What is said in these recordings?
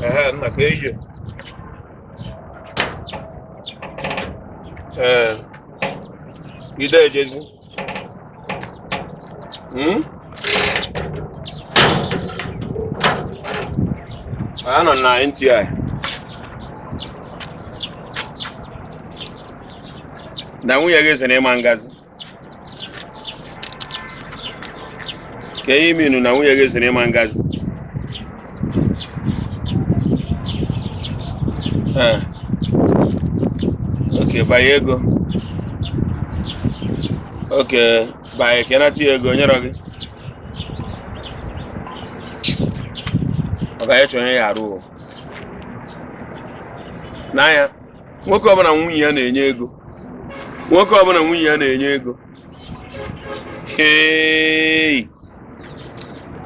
Ehe, nna ka eyi ee ide ejezi Hmm? Ano na nti ai. Na nwunye gị sị na ịma ngazi. Kee ihe i menụ na nwunye gị sị na ịma ngazi. ee okay banye ego okay banye ka ị nata ya ego o nyerọ gị ọ ga-eche onye ya arụ o n'anya nwoke ọbụla nwunye ya na-enye ego nwoke ọbụla nwunye ya na-enye ego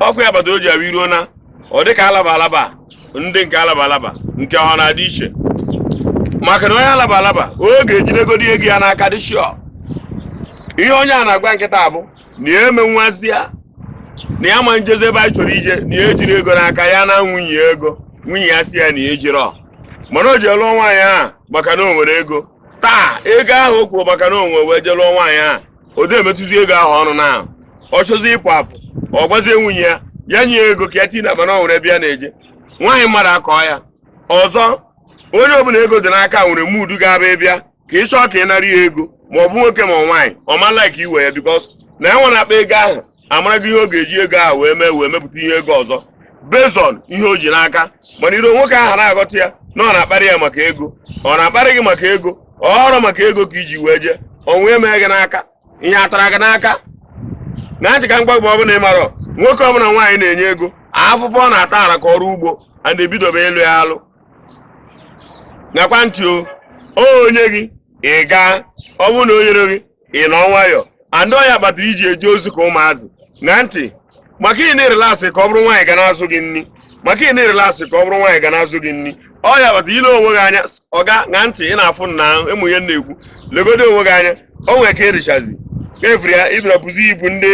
ọkwa ya kpata o ji abụ iruo na ọ dị ka alaba alaba ndị nke alaba alaba nke ọ na-adị iche maka na onye alaba alaba ọ ga-ejidegodi ego ya n'aka dị sure ihe onye a na-agwa m kịta bụ na ya eme nwazie na ya ma njezi ebe anyị chọrọ ije na ya ejirọ ego n'aka ya na nwunye ego nwunye ya asị ya na ya ejirọ mana o ji lụọ nwaanyị a maka na o nwere ego taa ego ahụ o kwuru maka na o nwe wee je lụọ nwaanyị ahụ o de emetụzi ego ahụ ọnụ na ahụ ọ chọzi ịpụ apụ ọ gwazie nwunye ya ya nye ego ka ya tii n'akpa na ọ nwere ebe ya na-eje nwaanyị mmadụ akọọ ya ọzọ onye ọbụla ego dị n'aka nwere mood ọ ga-aba ị bịa ka ị chọọ ka ị nara ya ego ma ọ bụ nwoke ma nwaanyị ọ ma like iwe ya because na ya nwa na-akpa ego ahụ amarago ihe ọ ga-eji ego ahụ wee mee wee mepụta ihe ego ọzọ based on ihe o ji n'aka mana iro nwoke ahụ na-aghọta ya na ọ na-akparị ya maka ego ọ na-akparị gị maka ego ọrọ maka ego ka i ji wee jee onwe emee gị n'aka ihe atara gị n'aka ṅa ntị ka m gwa gị ọbụla ị mara nwoke ọbụla nwaanyị na-enye ego afụfụ ọ na-ata ara ka ọrụ ugbo a na-ebidobe ịlụ ya alụ ṅakwa ntị o o nye gị ị gaa ọ bụrụ na o nyere gị ị nọ nwayọọ and ọ ya kpata i ji eje ozi ka ụmụazị ṅa ntị maka ị na-relax ka ọ bụrụ nwaanyị ga na-azụ gị nri maka ị na-relax ka ọ bụrụ nwaanyị ga na-azụ gị nri ọ ya kpata i lee onwe gị anya oga ṅa ntị ị na-afụ na ịmụ ihe na-ekwu legodo onwe gị anya o nwere ka ị dịchazi efiri ya ibira bụzi ibu ndị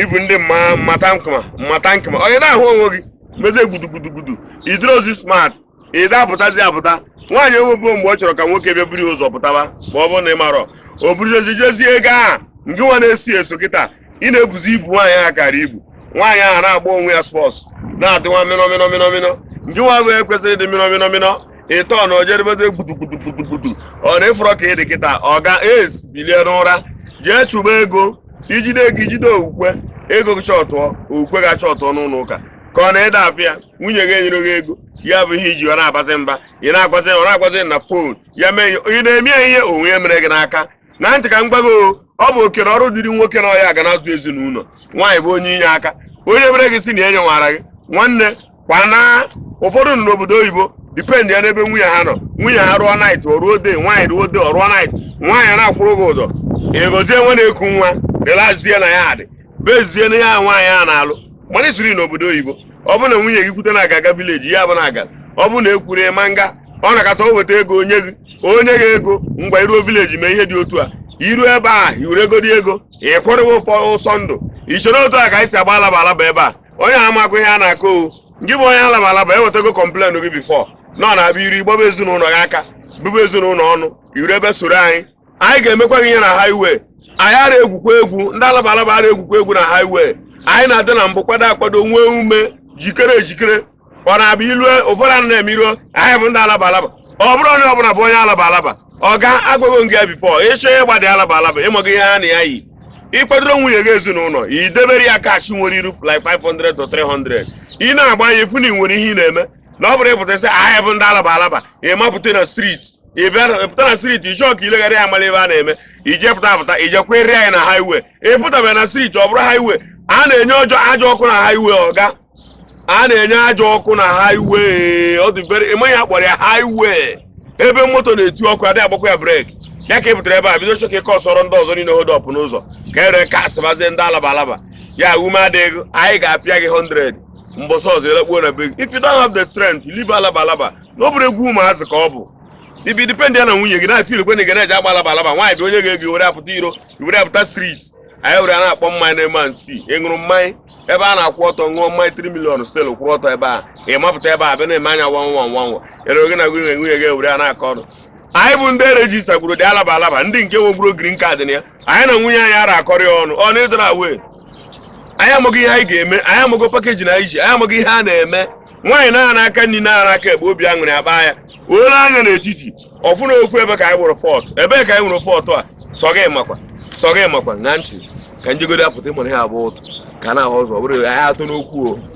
ibu ndị mmatankma mmatankma onye na-ahụ onwe gị mezie gudugudugudu ị dịrọzi smart ị da apụtazi apụta nwaanyị enwebe mgbe ọ chọrọ ka nwoke bịa buru ụzọ pụtaba ma ọ bụrụ na ị marọ o buruzi jezie ego a nke nwa na-esi eso kịta ị na-ebuzi ibu nwaanyị ahụ kara ibu nwaanyị ahụ na-agba onwe ya sports na-adịwa mịnọ mịnọ mịnọ mịnọ ngị nwa bụ ekwesịrị ịdị mịnọ mịnọ mịnọ ịtọ na ojedebede gbudugbudugbudu ọ na-afụrọ ka ị dị kịta ọ ga es bilie n'ụra jee chụba ego i jide ego i jide okwukwe ego gị chọtụọ okwukwe ga-achọtụọ n'ụlọ ụka ka ọ na-ede afịa nwunye gị enyere gị ego ya bụ ihe iji ọ na-agbazi mba ị na-agbazi ọ na-agbazi na fon ya mee ihe ị na-eme ya ihe onwe ya mere gị n'aka na ntị ka m gbago ọ bụ oke n'ọrụ dịrị nwoke na ọ ya ga na-azụ ezinụlọ nwaanyị bụ onye inye aka onye mere gị si na enye nwara gị nwanne kwana ụfọdụ nọ n'obodo oyibo dependịa n'ebe nwunye ha nọ nwunye ha rụọ night ọ rụọ day nwaanyị rụọ day ọ rụọ night nwaanyị na-akwụrụ gị ụgwọ egozie nwa na-eku nwa relaxie na ya adị bezie na ya nwaanyị a na-alụ mana i siri n'obodo oyibo ọ bụ na nwunye gị kwute na a ga-aga village ya bụ na aga ọ bụrụ na ekwuru ịma nga ọ na-akata o weta ego o nye gị o nye gị ego ngwa i ruo village mee ihe dị otu a i ruo ebe a i were ego dị ego ịkwụrịwa ụfọ ụsọ ndụ ị chọrọ otu a ka anyị si agba alaba alaba ebe a onye amakwa ihe a na-akọ ọ gị bụ onye alaba alaba ewetago complain gị before na ọ na-abịa iru gbaba ezinụlọ gị aka bụbụ ezinụlọ ọnụ iru ebe soro anyị anyị ga-emekwa gị ihe na highway anyị ara egwukwa egwu ndị alaba alaba ara egwukwa egwu na highway anyị na-adị na mbụ kwado akwado nwee ume jikere ejikere ọ na-abụ ilue ụfọdụ a na-eme iruo anyị bụ ndị alaba alaba ọ bụrụ onye ọbụla bụ onye alaba alaba ọ ga-agwago gị before ị chọọ ịgba dị alaba alaba ị maghị ihe ha na ya yi ị kwadoro nwunye gị ezinụlọ i debere ya cash nwere iru like 500 to 300 ị na-agba ya efu na ị nwere ihe ị na-eme na ọ bụrụ ị pụta sị anyị bụ ndị alaba alaba ị mapụta na street ị bịa pụta na street ị chọọ ka i legharịa anya mara ebe a na-eme i jee pụta apụta i jekwuru anyị na highway ị pụtabe na street ọ bụrụ highway a na-enye ọjọ ajọ ọkụ na highway ọga a na-enye ajọ ọkụ na highway ọ dị very ị maghị ihe a kpọrọ ya highway ebe moto na-eti ọkụ adịghị agbakwa ya brake ya ka ị pụtara ebe a bido chọọ ka ị causeọrọ ndị ọzọ niile hold up n'ụzọ ka ere ka asịbazie ndị alaba alaba ya ume adịghị anyị ga-apịa gị 100 mbọsị ọzọ elekpuo na be gị if you don't have the strength leave alaba alaba na ọ bụrọ egwu ụmụazị ka ọ bụ ị bịa dependịa na nwunye gị na-ati irikwe na ị ga na-eji agba alaba alaba nwaanyị bụ onye ga-ego were apụta iro were apụta street anyị were a na-akpọ mmanya na-eme nsi ị ṅụrụ mmanya ebe a na-akwụ ọtọ ṅụọ mmanya 3 million still kwụrụ ọtọ ebe a ị mapụta ebe a bịa na-eme anya nwa nwa nwa nwa ere oge na gị na nwunye gị were a na-akọ ọnụ anyị bụ ndị registergburu dị alaba alaba ndị nke nwegburu green card na ya anyị na nwunye anyị ara akọrị ọnụ ọnụ ịdịra wee anyị amaghị ihe anyị ga-eme anyị amaghị pakeji na anyị ji anyị amaghị ihe a na-eme nwaanyị na-ara aka nri na-ara aka ekpe obi aṅụrị akpa ya o lee anya n'etiti ọ fụ na ofu ebe ka anyị nwere fọt ebee ka anyị nwere fọtụ a sọ gị makwa sọ gị makwa na ntị ka m jegodi apụta ịmụrụ ha abụọ ụtụ ka na-ahụ ụzọ ọ bụrụ anyị atụ n'okwu o